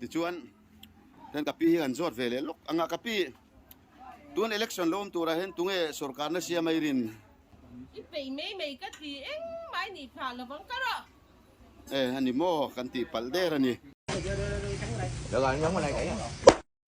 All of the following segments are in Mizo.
tichuan hian ka pi hi kan zawt ve leh lawk ang a ka pi tun election lo awm tura hian tunge sorkar na siam a i rin i pei mai mai ka ti eng mai ni tha lo vang ka rawh e a ni maw kan tih palh der a ni.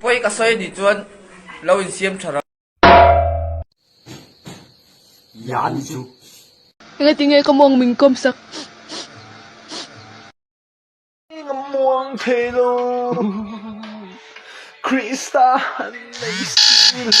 Inpawih ka sawi anih chuan lo insiam tha rang. Enga ti nge ka muang min kawm sak. Enga muang thei lo Krista han nei si lo.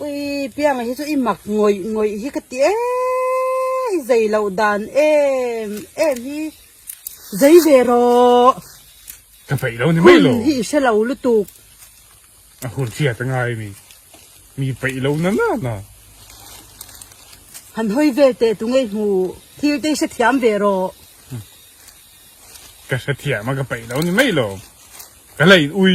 Ui piangaih hi chu i mak ngawih ngawih hi ka ti eee i zai loh dan em em hi zai ve rawh ka feih lo ni mai lo hun hi i hre lo lutuk a hun hria ta ngai mi mi peih lo na na na han hawi vel teh tu ngei hmu thil te hre thiam ve rawh ka hre thiam a ka peih lo ni mai lo ka lei ui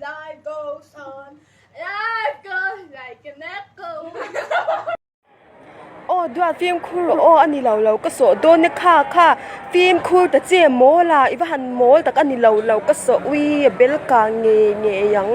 Life goes on, life goes like an echo. Aw duan fimkhur rawh aw a ni lo lo ka sawh dawn e kha kha fimkhur ta che mawl a i va han mawl tak a ni lo lo ka sawh ui a bel kang ngei ngei ang.